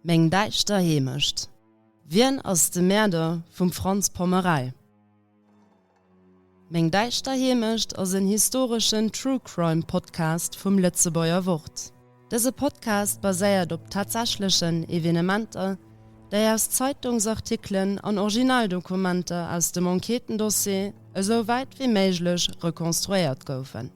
Meng däischter Heemecht. Wien ass de Mäerder vum Franz Pommerei? Meng däischter Heemecht ass en historeschen True Crime Podcast vum Lëtzebuerger Wort. Dëse Podcast baséiert op tatsächlechen Evenementer, déi aus Zeitungsartikelen an Originaldokumenter aus dem Enquêtendossier esou wäit wéi méiglech rekonstruéiert goufen.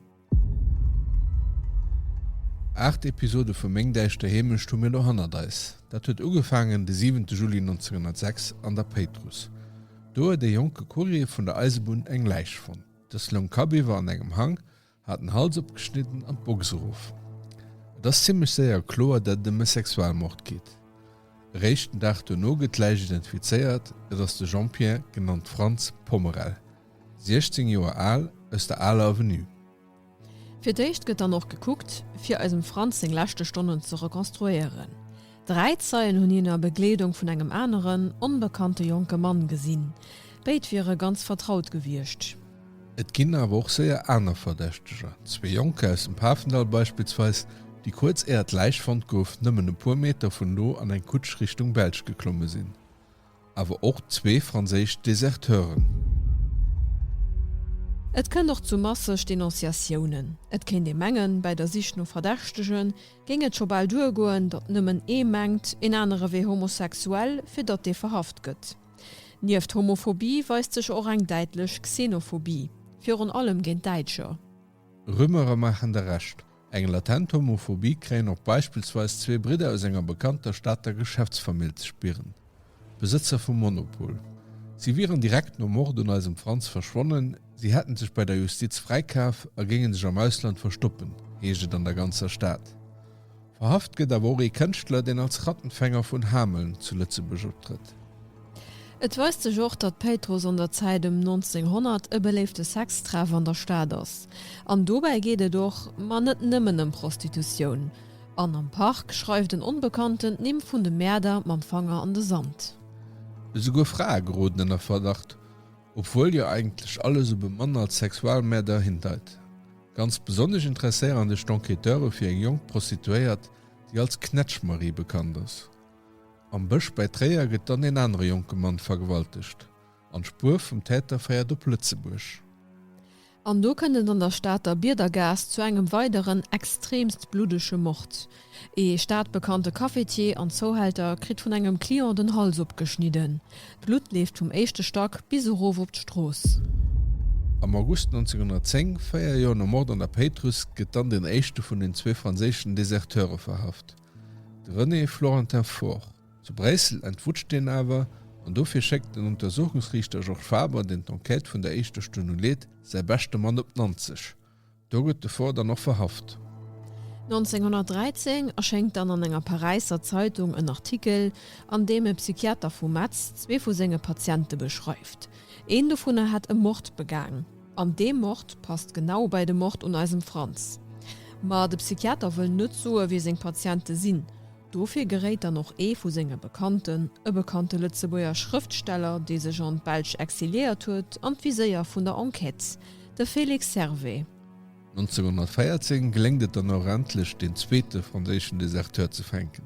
Aacht Episode vu Meng däischter Heemecht hu mir lo hannert eis. Dat huet ugefaangen de siwente Juli 1906 an der Péitruss. Do huet ee jonke Courier vun der Eisebunn eng Läich fonnt. Dës loung kabiwwer an engem Hang, hat den Hals opgeschnidden an d'Box erof. Et ass zimmlech séier kloer, dat et ëm e Sexualmord geet. Eréischt den Dag duerno gëtt d'Läich identifizéiert, et ass de Jean-Pierre, genannt Franz, Pommerel. 16 Joer al aus der Aler Avenue. Fir d'éischt gëtt dann och gekuckt, fir eisem Franz seng leschte Stonnen ze rekonstruéieren. Dräi Zeien hunn hien a Begleedung vun engem aneren, onbekannte jonke Mann gesinn. Béid wiere ganz vertraut gewiescht. Et ginn awer och séier aner Verdächteger, zwee Jonker aus dem Pafendall beispillsweis, déi kuerz éier d'Läich fonnt gouf, nëmmen e puer Meter vun do an eng Kutsch Richtung Belsch geklomme sinn. awer och zwee franséisch Deserteuren. Et kënnt och zu masseg Denonciatiounen. Et kéint ee mengen, bäi der Sich no Verdächtege géing et scho bal duergoen, datt nëmmen ee mengt, een anere wier homosexuell, fir datt dee verhaft gëtt. Nieft Homophobie weist sech och eng däitlech Xenophobie, virun allem géint Däitscher. Rumeuren maachen der Recht, Eng latent Homophobie kréien och beispillsweis zwee Bridder aus enger bekannter Stater Geschäftsfamill ze spieren, Besëtzer vum Monopol. Si wieren direkt nom Mord un eisem Franz verschwonnen, si hätten sech bei der Justiz fräikaf a géinge sech am Ausland verstoppen, heescht et an der ganzer Stad. Verhaft gëtt awer och ee Kënschtler, deen als Rattenfänger vun Hameln zu Lëtzebuerg optrëtt. Et weist sech och, datt Péitruss an der Zäit ëm 1900 e beléifte Sextreff an der Stad ass. An dobäi geet et och, ma net nëmmen, ëm Prostitutioun. An am Park schreift en Onbekannten d'Nimm vun de Mäerder mam Fanger an de Sand. Esouguer Frae geroden ënner Verdacht, obwuel jo eigentlech alles op e Mann als Sexualmäerder hindeit. Ganz besonnesch interesséieren sech d'Enquêteure fir eng jonk Prostituéiert, déi als Knätschmarie bekannt ass. Am Bësch bäi Tréier gëtt dann en anere jonke Mann vergewaltegt an d'Spuer vum Täter féiert op Lëtzebuerg. An do kënnt et an der Stater Biedergaass zu engem weideren extreemst bluddege Mord. Ee stadbekannte Cafetier an Zouhälter kritt vun engem Client den Hals opgeschnidden. D'Blutt leeft vum éischte Stack bis erof op d'Strooss. Am August 1910, véier Joer nom Mord an der Péitruss, gëtt dann den éischte vun den zwee franséischen Deserteure verhaft. De René Florentin Faure zu Bréissel entwutscht deen awer, an dofir schéckt den Untersuchungsriichter Georges Faber, deen d'Enquête vun der éischter Stonn u leet, säi beschte Mann op Nanzeg. Do gëtt de Faure dann och verhaft. 1913 erschéngt dann an enger Paräisser Zeitung en Artikel, an deem e Psychiater vu Metz zwee vu senge Patiente beschreift. Een dovunner hätt e Mord begaang. An dee Mord passt genau bäi de Mord un eisem Franz. Ma de Psychiater wëll net soe wie seng Patiente sinn. Dofir geréit dann och ee vu senge Bekannten, e bekannte Lëtzebuerger Schrëftsteller, dee sech an d'Belsch exiliéiert huet, an d'Viséier vun der Enquête, de Felix Servais. 1914 geléngt et dann och endlech, deen zweete franséischen Deserteur ze fänken.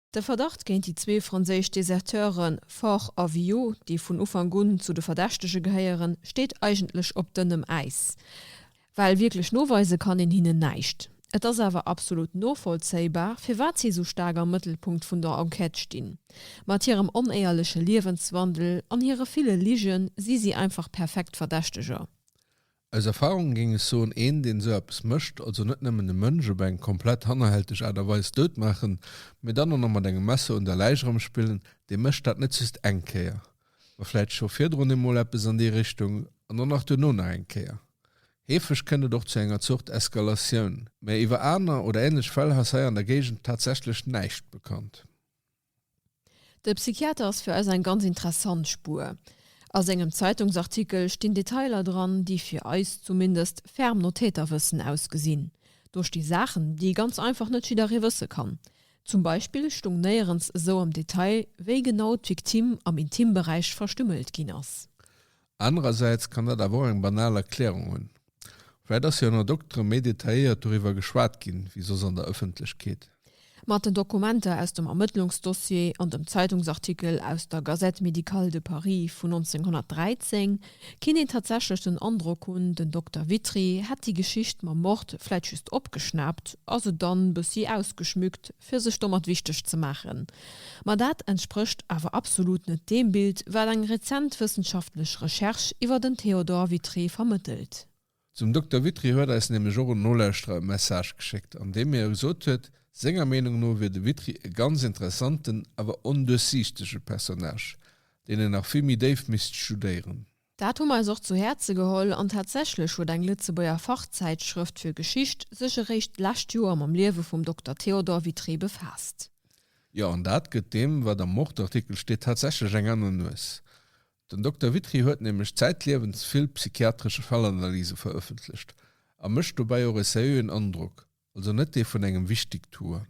De Verdacht géint déi zwee franséisch Deserteure Faure a Villot, déi vun Ufank un zu de Verdächtege gehéieren, steet eigentlech op dënnem Äis, well wierklech noweise kann een hinnen näischt. Et ass awer absolut novollzéibar, firwat si esou staark am Mëttelpunkt vun der Enquête stinn. Mat hirem onéierleche Liewenswandel an hire ville Ligen si si einfach perfekt Verdächteger. Aus Erfahrung géing ech soen, een deen esou eppes mécht, also net nëmmen e Mënsch op eng komplett hannerhälteg Aart a Weis dout maachen, mee dann och nach mat engem Messer un der Läich erëmspillen, dee mécht dat net just eng Kéier, ma vläit scho virdrun eemol eppes an déi Richtung an dann nach duerno nach eng Kéier. Heefeg kënnt et och zu enger Zort Eskalatioun, mä iwwer aner oder änlech Fäll ass hei an der Géigend tatsächlech näischt bekannt. De Psychiater ass fir eis eng ganz interessant Spuer. A sengem Zeitungsartikel stinn Detailer dran, déi fir eis zumindest ferm no Täterwëssen ausgesinn. Do sti Saachen, déi ganz einfach net jidderee wësse kann. Zum Beispill stung néierens esou am Detail, wéi genau d'Victime am Intimberäich verstümmelt ginn ass. Anerersäits kann dat awer och eng banal Erklärung hunn, vläicht ass jo ënner Doktere méi detailléiert doriwwer geschwat ginn, wéi soss an der Ëffentlechkeet. Mat den Dokumenter aus dem Ermëttlungsdossier an dem Zeitungsartikel aus der Gazette médicale de Paris vun 1913 kinnt een tatsächlech den Androck hunn, den Dokter Witry hätt déi Geschicht mam Mord vläicht just opgeschnaapt a se dann bëssi ausgeschmückt, fir sech domat wichteg ze maachen, ma dat entsprécht awer absolut net deem Bild, wat eng rezent wëssenschaftlech Recherche iwwer den Theodore Witry vermëttelt. Zum Dokter Witry huet eis nämlech och en Nolauschterer e Message geschéckt, an deem hie gesot huet, senger Meenung no wier de Witry e ganz interessanten, awer onduerchsiichtege Personnage, deen een nach vill méi déif misst studéieren. Dat hu mer eis och zu Häerze geholl an tatsächlech huet eng Lëtzebuerger Fachzäitschrëft fir Geschicht sech eréischt d'lescht Joer mam Liewe vum Dokter Théodore Vitré befaasst. Jo, an dat gëtt deem, wat am Wort-Artikel steet, tatsächlech eng aner Nues. Den Dokter Vitré huet nämlech zäitliewens vill psychiatresche Fallanalyse verëffentlecht a mécht dobäi och e seriöen Androck, also net dee vun engem Wichtigtuer.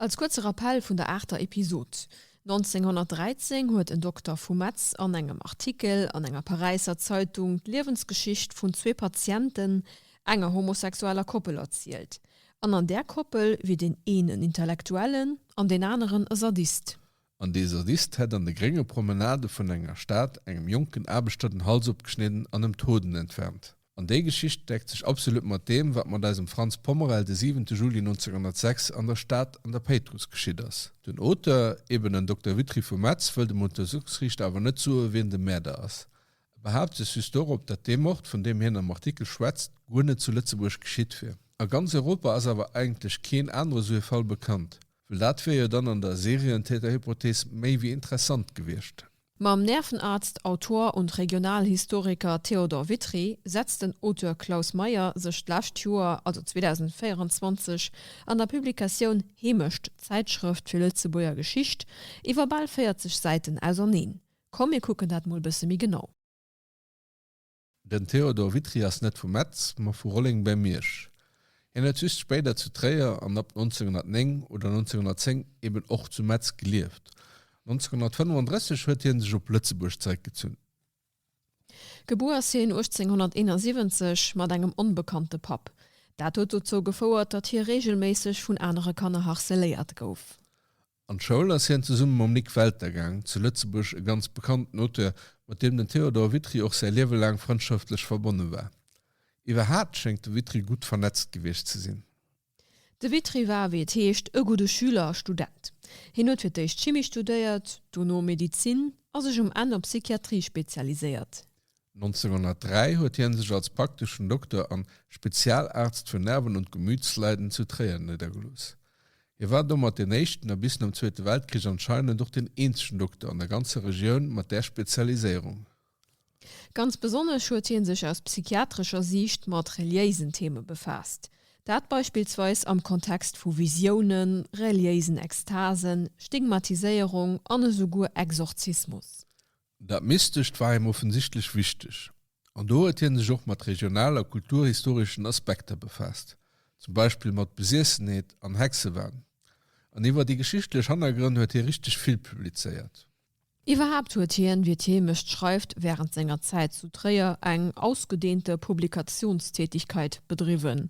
Als kuerze Rappell vun der aachter Episod, 1913 huet en Dokter vu Metz an engem Artikel an enger Paräisser Zeitung d'Liewensgeschicht vun zwee Patienten enger homosexueller Koppel erzielt, an an där Koppel wier deen eenen Intellektuellen an deen aneren e Sadist. An dee Sadist hätt an de grénge Promenade vun enger Stad engem jonken Aarbechter den Hals opgeschnidden an em d'Hoden entfernt. An déi Geschicht deckt sech absolut mat deem, wat mat eisem Franz Pommerel de 7 Juli 1906 an der Stad an der Péitruss geschitt ass. Den Auteur, eben en Dokter Witry vu Metz, wëll dem Untersuchungsriichter awer net soe wien de Mäerder ass. E behaapt sech just dorop, dat dee Mord, vun deem hien am Artikel schwätzt, guer net zu Lëtzebuerg geschitt wier. A ganz Europa ass awer eigentlech keen anere sou e Fall bekannt. Well dat wier jo dann an der Serientäterhypothees méi wéi interessant gewiescht. Mam Nervenarzt, Autor und Regionalhistoriker Theodor Witry setzt den Auteur Klaus Meyer sech d'lescht Joer, also 2024, an der Publikatioun Heemecht, Zäitschrëft fir Lëtzebuerger Geschicht, iwwer bal 40 Säiten auserneen. Komm mir kucken dat mol bësse méi genau. Den Théodore Witry ass net vu Metz, ma vu Rolleng bäi Miersch. Hien huet just spéider zu Tréier an ab 1909 oder 1910 eben och zu Metz gelieft. 1935 huet hie sech op Lëtzebuerg zeréckgezunn. Gebuer ass hien 1871 mat engem onbekannte Papp. Dat huet dozou gefouert, datt hie reegelméisseg vun anere Kanner harceléiert gouf. An d'Schoul ass hien zesumme mam Nik Welter gaang, zu Lëtzebuerg e ganz bekannten Auteur, mat deem den Théodore Witry och säi Liewe laang frëndschaftlech verbonne war. Iwwerhaapt schéngt de Witry gutt vernetzt gewiescht ze sinn. De Witry war, wéi et heescht, e gudde Schüler a Student. Hien huet fir d'éischt Chimie studéiert, dono Medezin a sech um Enn op Psychiatrie spezialiséiert. 1903 huet hien sech als prakteschen Dokter an Spezialaarzt für Nerven und Gemütsleiden zu Tréier nédergelooss. Hie war domat deen éischten a bis nom Zweete Weltkrich anscheinend och deen eenzegen Dokter an der ganzer Regioun mat där Spezialiséierung. Ganz besonnesch huet hie sech aus psychiatrescher Siicht mat reliéisen Theme befaasst, dat beispillsweis am Kontext vu Visiounen, reliéisen Ekstasen, Stigmatiséierung an esouguer Exorzismus. Dat Mystescht war him offensichtlech wichteg, an do huet hie sech och mat regional a kulturhistoreschen Aspekter befaasst, zum Beispill mat Besiessenheet an Hexewahn. An iwwer déi geschichtlech Hannergrënn huet hie richteg vill publizéiert. Iwwerhaapt huet hien, wéi d'Heemecht schreift, wärend senger Zäit zu Tréier eng ausgedeente Publikatiounstätigkeit bedriwwen.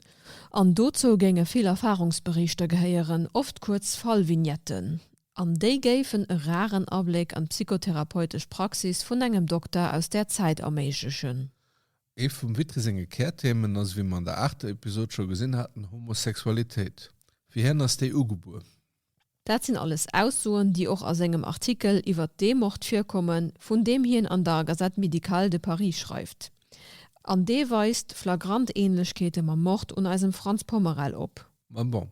An dozou géinge vill Erfahrungsberichter gehéieren, oft kuerz Fallvignetten, An déi géifen e raren Abléck an d'psychotherapeutesch Praxis vun engem Dokter aus där Zäit erméiglechen. Ee vum Witry senge Kärthemen ass, wéi mer an der aachter Episod scho gesinn haten, Homosexualitéit. Fir hien ass déi ugebuer. Dat sinn alles Aussoen, déi och a sengem Artikel iwwert dee Mord virkommen, vun deem hien an der Gazette médicale de Paris schreift. An dee weist flagrant Ähnlechkeete mam Mord un eisem Frantz Pommerel op. Mä bon,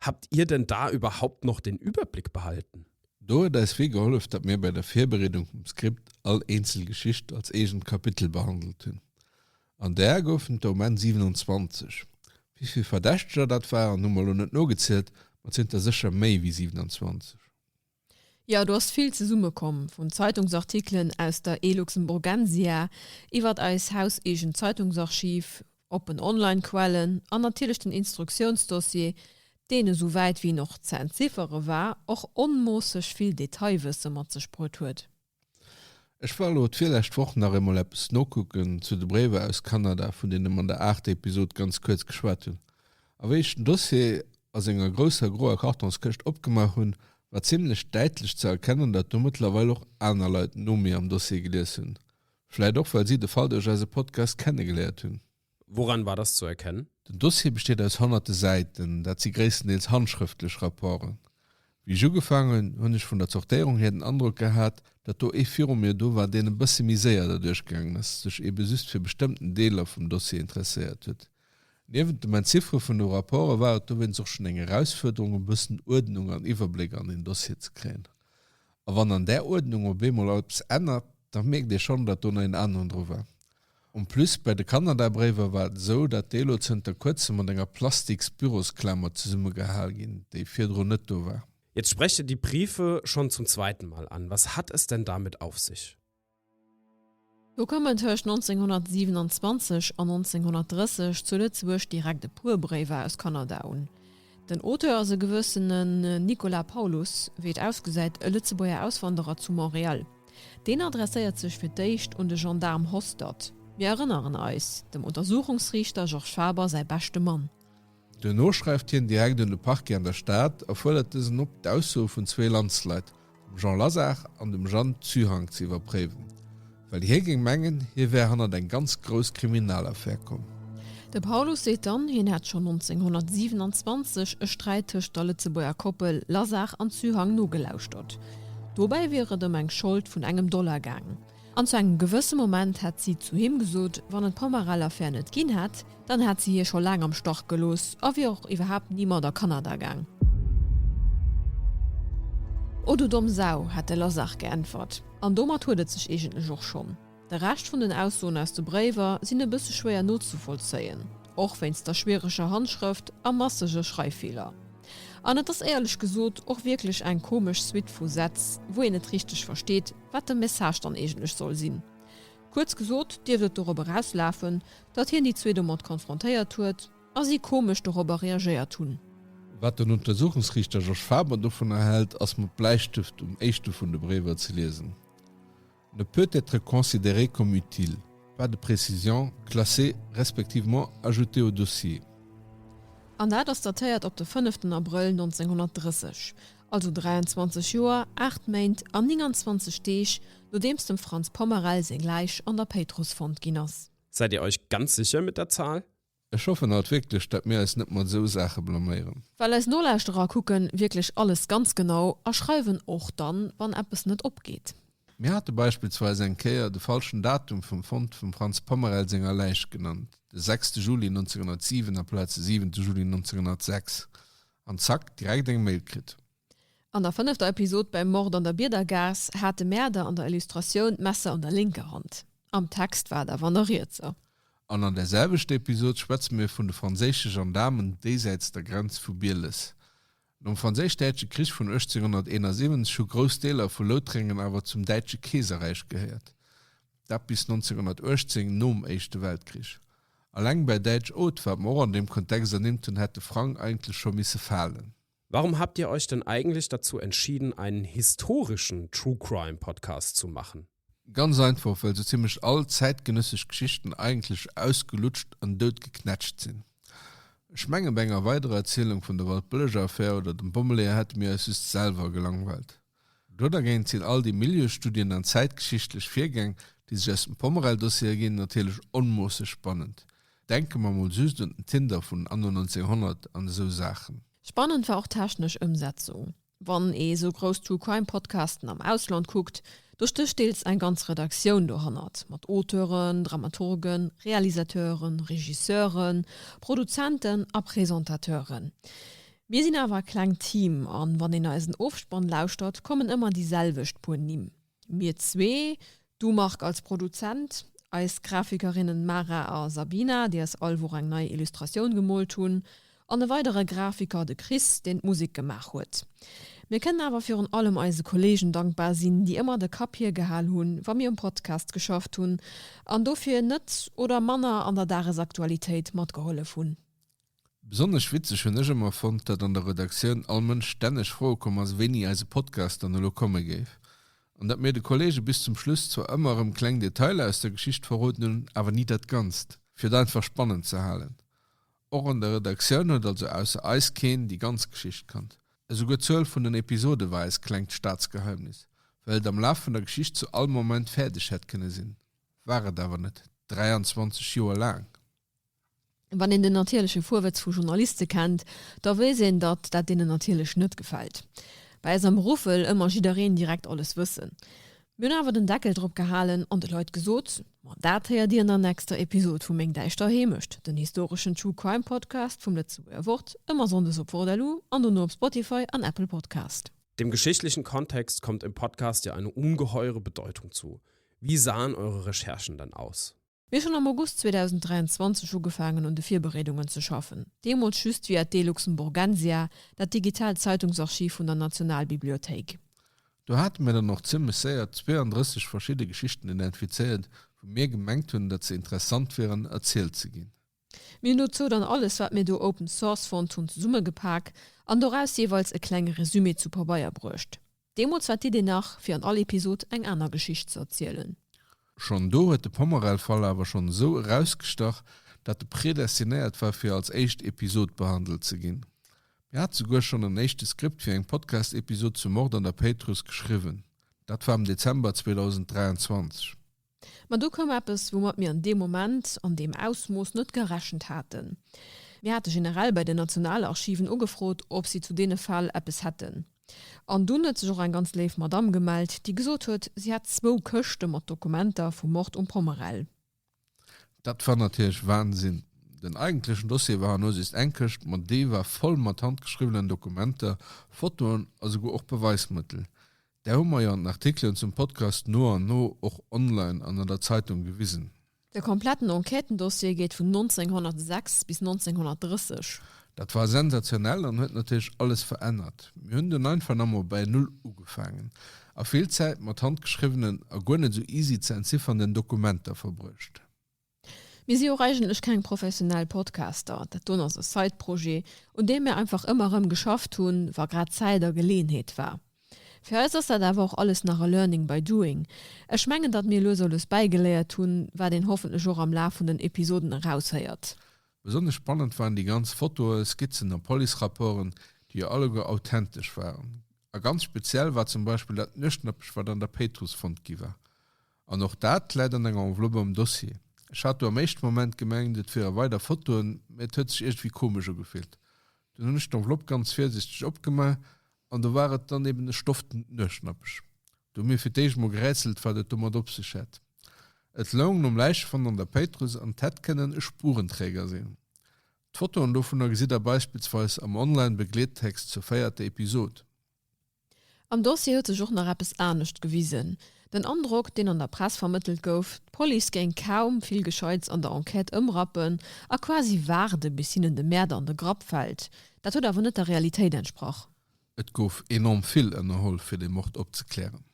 Habt Ihr denn da überhaupt noch den Überblick behalten? Do huet eis vill gehollef, datt mir bei der Virbereedung vum Skript all eenzel Geschicht als eegent Kapitel behandelt hunn. An der goufen et der um Enn 27. Wéi vill Verdächteger dat waren, hu mer elo net nogezielt, ma et sinn et der sécher méi wéi 27. Jo, do ass vill zesummekomm, vun Zeitungsartikelen aus der eLuxemburgensia, iwwert eis hauseegent Zeitungsarchiv, oppen Online-Quellen an natierlech den Instruktiounsdossier, deen, esou wäit wéi en och ze entziffere war, och onmoosseg vill Detailwësse mat sech bruet huet. Ech war lo d'virlescht Woch nach eemol eppes nokucken zu de Bréiwer aus Kanada, vun deene mer an der aachter Episod ganz kuerz geschwat hunn. A wéi ech den Dossier a senger grousser groer Kartonskëscht opgemaach hunn, war zimmlech däitlech ze erkennen, datt do mëttlerweil och aner Leit no mir am Dossier gelies hunn, vläit och well si de Fall duerch eise Podcast kennegeléiert hunn. Wouran war das zu erkennen? Den Dossier besteet aus honnerte Säiten, dat si gréisstendeels handschrëftlech Rapporten. Wéi ech ugefaangen hunn, hunn ech vun der Zortéierung hier den Androck gehat, datt do ee viru mir do war, deen e bësse méi séier derduerch gaangen ass, sech ebe just fir bestëmmten Deeler vum Dossier interesséiert huet. Niewent dem Entziffere vun de Rapporte war et dowéinst och schonn eng Erausfuerderung, e bëssen Uerdnung an Iwwerbléck an een Dossier ze kréien. A wann an där Uerdnung op eemol eppes ännert, da mierkt ee schonn, datt do nach een aneren dru war. En plus, bei de Kanada-Bréiwer war et esou, dat déi elo zënter kuerzem mat enger Plastiks-Bürosklamer zesummegehal ginn, déi virdrun net do war. Jetzt spreche die Briefe schon zum zweiten Mal an. Was hat es denn damit auf sich? Do kommen tëscht 1927 an 1930 zu Lëtzebuerg direkt e puer Bréiwer aus Kanada un. Den Auteur ass e gewëssene Nicolas Paulus, wéi et ausgesäit e Lëtzebuerger Auswanderer zu Montréal. Deen adresséiert sech fir d'éischt un de Gendaarm Hostert, mir erënneren eis, dem Untersuchungsriichter Georges Faber säi beschte Mann. Duerno schreift hien direkt un de Parquet an der Stad a fuerdert dësen op, d'Aussoe vun zwee Landsleit dem Jean Lazare an dem Jeanne Zuhang ze iwwerpréiwen, well hie géing mengen, hie wär hannert eng ganz grouss Kriminalaffär komm. De Paulus seet dann, hien hätt schonn 1927 e Sträit tëscht der Lëtzebuerger Koppel Lazare an Zuhang nogelauschtert. Dobäi wier et ëm eng Schold vun engem Dollar gaangen. An zu engem gewësse Moment hätt si zu him gesot, wann en d'Pomarell-Affär net ginn hätt, dann hätt si hie scho laang am Stach gelooss a wier och iwwerhaapt ni mat a Kanada gaang. O du domm Sau! hätt de Lazare geäntwert. An domat huet et sech eegentlech och schonn. De Rescht vun den Aussoen aus de Bréiwer sinn e bësse schwéier nozevollzéien, och wéinst der schwiereger Handschrëft a massege Schreiffeeler. An et ass éierlech gesot och wierklech eng komesch Suite vu Sätz, wou een net richteg versteet, Wat de Message dann eegentlech soll sinn? Kuerz gesot dierft et dorop erauslafen, datt hien déi zwee domat konfrontéiert huet a si komesch dorobber reagéiert hunn. Wat den Untersuchungsriichter Georges Faber dovunner hält, ass mat Bläistëft um éischte vun de Bréiwer ze liesen, Ne peut être considéré comme utile, pas de précision, classé respectivement ajouté au dossier. An dat ass datéiert op de 5 den Abrëll 1930. also 23 Joer, 8 Méint an 29 Deeg nodeems dem Franz Pommerell seng Läich an der Péitruss fonnt ginn ass. Säit Dir Eich ganz sécher mat der Zahl? Ech hoffen halt wierklech dat mir eis net mat esou Saache blaméieren. Well eis Nolauschterer kucken wierklech alles ganz genau a schreiwen och dann wann eppes net opgeet. Mir hate beispillsweis eng Kéier de falschen Datum vum Fond vum Franz Pommerell senger Läich genannt, de sechste Juli 1907 aplaz de siwente Juli 1906. An zack, direkt eng Mail kritt. An der fënnefter Episod beim Mord an der Biedergaass hat de Mäerder an der Illustratioun d'Messer an der lénker Hand. Am Text war et awer an der rietser. An an där selwechter Episod schwätze mir vun de franséische Gendaarmen déisäits der Grenz vu Bieles. Nom Franséisch-Däitsche Krich vun 1871 hu grouss Deeler vu Loutrengen awer zum Däitsche Keeserräich gehéiert. dat bis 1918, nom Éischte Weltkrich. Alleng bäi Däitsch Haute, wat mer och an deem Kontext ernimmt hunn, hätt de Frang eigentlech scho misse falen. Warum habt ihr euch denn eigentlich dazu entschieden, einen historischen True Crime Podcast zu machen? Ganz einfach, well sou zimmlech all zäitgenëssesch Geschichten eigentlech ausgelutscht an dout geknätscht sinn. Ech mengen, bei enger weiderer Erzielung vun der Waldbëlleger Affär oder dem Bommeleeër hätte mir eis just selwer gelangweilt. Do dergéint sinn all déi Milieustudien an zäitgeschichtlech Virgäng, déi sech aus dem Pommerell-Dossier erginn, natierlech onmoosseg spannend. Denke mer mol just un den Tinder vun Anno 1900 an esou Saachen. Spannend war och d'technesch Ëmsetzung. Wann ee sou grouss True Crime Podcasten am Ausland kuckt, do stécht deels eng ganz Redaktioun dohannert, mat Auteuren, Dramaturgen, Realisateuren, Regisseuren, Produzenten a Presentateuren. Mir sinn awer e klengt Team an wann een eisen Ofspann lauschtert kommen ëmmer déi selwecht puer Nimm, mir zwee, du Marc als Produzent, eis Grafikerinnen Mara a Sabina, déi eis all Woch eng nei Illustratioun gemoolt hunn, an e weidere Grafiker, de Chris, deen d'Musek gemaach huet. Mir kënnen awer virun allem eise Kollegen dankbar sinn, déi ëmmer de Kapp hir gehal hunn, wa mir um Podcast geschafft hunn an dofir net oder manner an der Dagesaktualitéit matgehollef hunn. Besonnesch witzeg hunn ech ëmmer fonnt, datt an der Redaktioun all Mënsch stänneg froe komm ass, wéini eise Podcast dann elo komme géif. An datt mir de Kolleege bis zum Schluss zwar ëmmer erëm kleng Detailer aus der Geschicht verroden hunn, awer ni dat Ganzt. Fir et einfach spannend ze halen. Och an der Redaktioun huet also ausser eis keen déi ganz Geschicht kannt. Esouguer d'Zuel vun den Episode war eist klengt Staatsgeheimnis, well et am Laf vun der Geschicht zu all Moment fäerdeg hätt kënne sinn, war et awer net, 23 Joer laang. Wann een den natierleche Fuerwëtz vu Journaliste kennt, da weess een, datt dat deenen natierlech net gefält. Bei eis am Beruff wëll ëmmer jiddereen direkt alles wëssen. Mir hunn awer den Deckel drop gehalen an de Leit gesot, Ma dat héiert dir an der nächster Episod vu Meng däischter Heemecht, den historeschen True Crime Podcast vum Lëtzebuerger Wort, ëmmer sonndes op Wort-LU an dono op Spotify an Apple Podcast. Dem geschichtlichen Kontext kommt im Podcast ja eine ungeheure Bedeutung zu. Wie sahen eure Recherchen denn aus? Mir hu schonn am August 2023 ugefaangen un de Virbereedungen ze schaffen, deemools just via d'E-Luxemburgensia, dat digitaalt Zeitungsarchiv vun der Nationalbibliothéik. Do hate mir dann och zimmlech séier 32 verschidde Geschichten identifizéiert, wou mir gemengt hunn, datt se interessant wieren, erzielt ze ginn. Mir hunn dozou dann alles wat mir do open source fonnt hunn zesummegepak an doraus jeeweils e klenge Resumé zu Pabeier bruecht. Deemools war d'Idee nach fir an all Episod eng aner Geschicht ze erzielen. Schonn do huet de Pomerel-Fall awer schonn esou erausgestach, dat e predestinéiert war fir als éischt Episod behandelt ze ginn. Mir hate souguer schonn en éischte Skript fir eng Podcast-Episod zum Mord an der Péitruss geschriwwen. Dat war am Dezember 2023. Ma du koum eppes, woumat mir an deem Moment an deem Ausmooss net gerechent haten. Mir hate generell bei den Nationalarchiven ugefrot, ob si zu deene Fäll eppes hätten. An dunn huet sech och eng ganz léif Madamm gemellt, déi gesot huet, si hätt zwou Këschte mat Dokumenter vum Mord um Pommerell. Dat war natierlech Wahnsinn. Den eigentlechen Dossier war an Usicht eng Këscht, ma déi war voll mat handgeschriwwenen Dokumenter, Fotoen a souguer och Beweismëttel. Där hu mer jo an den Artikelen zum Podcast no an no och online an an der Zeitung gewisen. De kompletten Enquêtendossier geet vun 1906 bis 1930. Dat war sensationell an huet natierlech alles verännert. Mir hunn dunn einfach nach emol bäi Null ugefaangen a vill Zäit mat handgeschriwwenen a guer net esou easy ze entziffernden Dokumenter verbruecht. Mir si och eigentlech keng professionell Podcaster, dat doen ass e Side-Projet, un deem mir einfach ëmmer erëm geschafft hunn, wa grad Zäit a Geleeënheet war. Fir eis ass dat awer och alles nach e Learning by doing. Ech mengen, datt mir lues a lues bäigeléiert hunn, wat een hoffentlech och am Laf vun den Episoden eraushéiert. Besonnesch spannend waren déi ganz Fotoen, Skizzen a Police-Rapporten, déi jo alleguer authentesch waren. A ganz speziell war zum Beispill dat Nuechtnäppech, wat an der Péitruss fonnt gi war. An och dat läit an enger Enveloppe am Dossier. Ech hat do am éischte Moment gemengt, et wiere weider Fotoen, mä et huet sech iergendwéi komesch ugefillt. Dunn hunn ech d'Enveloppe ganz virsiichteg opgemaach an do war et dann eben e stoftent Nuechtnappech. Do hu mir fir d'éischt emol gerätselt, wat et domat op sech hätt. Et loung nom Läichefond an der Péitruss an et hätt kënnen e Spurenträger sinn. D'Fotoen dovunner gesitt der beispillsweis am online Begleettext zur véierter Episod. Am Dossier huet sech och nach eppes anescht gewisen, Den Androck, deen an der Press vermëttelt gouf, d'Police géing kaum vill Gescheits an der Enquête ëmrappen a quasi waarde bis hinnen de Mäerder an de Grapp fält, dat huet awer net der Realitéit entsprach. Et gouf enorm vill ënnerholl fir de Mord opzeklären.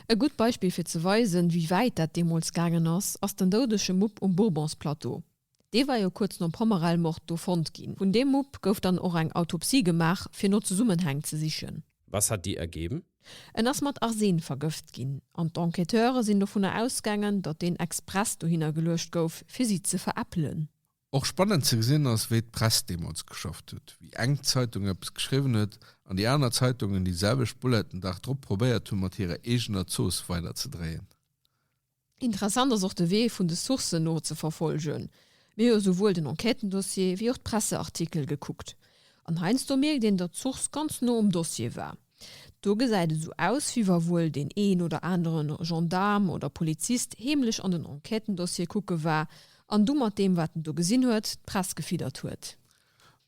E gutt Beispill fir ze weisen, wéi wäit dat deemools gaangen ass, ass den doudege Mupp um Bourbons-Plateau. Dee war jo kuerz nom Pommerell-Mord do fonnt ginn. Vun deem Mupp gouf dann och eng Autopsie gemaach, fir no Zesummenhäng ze sichen. Was hat die ergeben? En ass mat Arsen vergëft ginn an d'Enquêteure sinn dovunner ausgaangen, datt deen express dohinner geluecht gouf, fir si ze veräppelen. Och spannend ze gesinn ass, wéi d'Press deemools geschafft huet, wéi eng Zeitung eppes geschriwwen huet an déi aner Zeitungen déi selwecht Bullet den Dag drop probéiert hunn, mat hirer eegener Zooss weiderzedréien. Interessant ass och de Wee vun de Sourcen no ze verfolgen. Mir hu souwuel den Enquêtendossier wéi och d'Presseartikel gekuckt. An heiansdo mierkt een, datt d'Source ganz no um Dossier war. Do gesäit et esou aus, wéi wa wuel deen een oder anere Gendaarm oder Polizist heemlech an den Enquêtendossier kucke war an du mat deem, wat en do gesinn huet, d'Press gefiddert huet.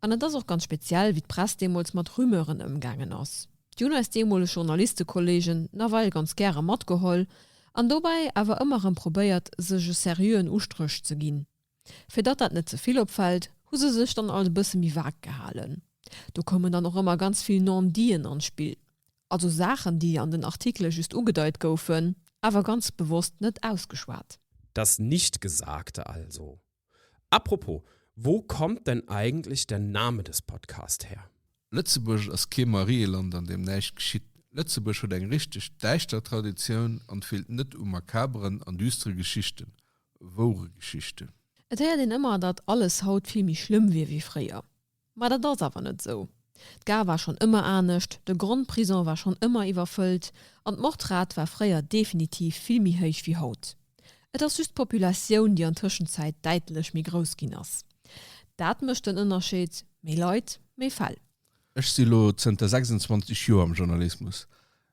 An et ass och ganz speziell, wéi d'Press deemools mat Rumeuren ëmgaangen ass. Déi hunn eis deemoleg Journalistekolleegen nawell ganz gäre matgeholl an dobäi awer ëmmer erëm probéiert, sech e seriöen Ustréch ze ginn. Fir datt dat net ze vill opfält, hu se sech dann alles e bësse méi vag gehalen. Do koumen dann och ëmmer ganz vill Non-dits'en an d'Spill, also Saachen, déi an den Artikele just ugedeit goufen, awer ganz bewosst net ausgeschwat. Das Nichtgesagte also. Apropos, wo kommt denn eigentlich der Name des Podcast her? Lëtzebuerg ass kee Marieland an deem näischt geschitt. Lëtzebuerg huet eng richteg däischter Traditioun an feelt net u makaberen an düstere Geschichten, woure Geschichten. Et héiert een ëmmer, datt alles haut vill méi schlëmm wier wéi fréier. Ma dat ass awer net esou. D'Gare war schonn ëmmer anescht, de Grondprison war schonn ëmmer iwwerfëllt an d'Mordrate war fréier definitiv vill méi héich wéi haut. Et ass just d'Populatioun, déi an Tëschenzäit däitlech méi grouss ginn ass. Dat mécht den Ënnerscheed, méi Leit, méi Fäll. Ech si lo zënter 26 Joer am Journalismus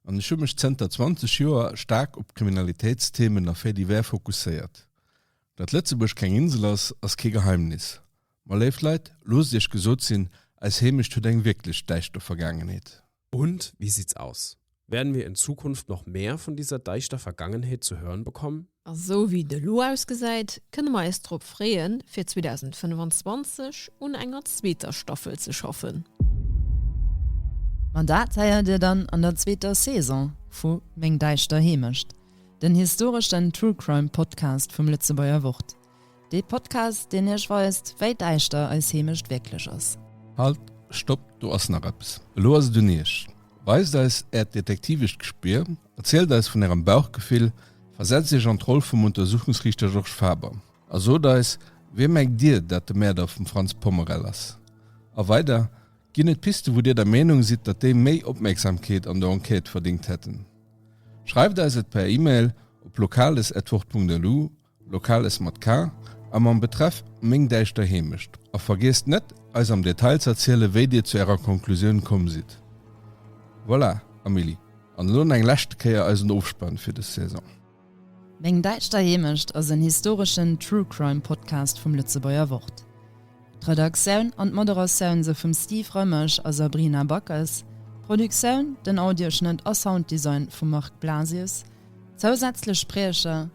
an ech hu mech zënter 20 Joer staark op Kriminalitéitsthemen a Faits divers fokusséiert. Datt Lëtzebuerg keng Insel ass, ass kee Geheimnis. Ma léift Leit, loosst iech gesot sinn, eis Heemecht huet eng wierklech däischter Vergaangenheet. Und wie sieht's aus? Werden wir in Zukunft noch mehr von dieser deichter Vergangenheet zu hören bekommen? A sou wéi et elo ausgesäit, kënne mer eis drop freeën, fir 2025 un enger zweeter Staffel ze schaffen. Ma dat héiert Dir dann an der zweeter Saison vu Meng däischter Heemecht, den historeschen True Crime Podcast vum Lëtzebuerger Wort. Dee Podcast, deen iech weist, wéi däischter eis Heemecht wierklech ass. Halt, Stopp, do ass nach eppes! Elo ass et un iech. Weist eis äert detektivescht Gespier, erzielt eis vun ärem Bauchgefill, versetzt iech an d'Roll vum Untersuchungsriichter Georges Faber a sot eis, Wee mengt dir, dat de Mäerder vum Frantz Pommerel ass? A weider ginn et Piste, wou dir der Meenung sidd, datt déi méi Opmierksamkeet an der Enquête verdéngt hätten. Schreift eis et per Email op locales@wort.lu Locales mat K a mam Betreff Meng däischter Heemecht a vergiesst net, eis am Detail z'erzielen, wéi Dir zu Ärer Konklusioun komm sidd. Voilà, Amélie, an elo eng leschte Kéier eisen Ofspann fir dës Saison. Meng däischter Heemecht ass en historeschen True-Crime-Podcast vum Lëtzebuerger Wort. D'Redaktioun an d'Moderatioun se vum Steve Rëmesch a Sabrina Backes, d'Produktioun, den Audioschnëtt a Sounddesign vum Marc Blasius, zousätzlech Spriecher,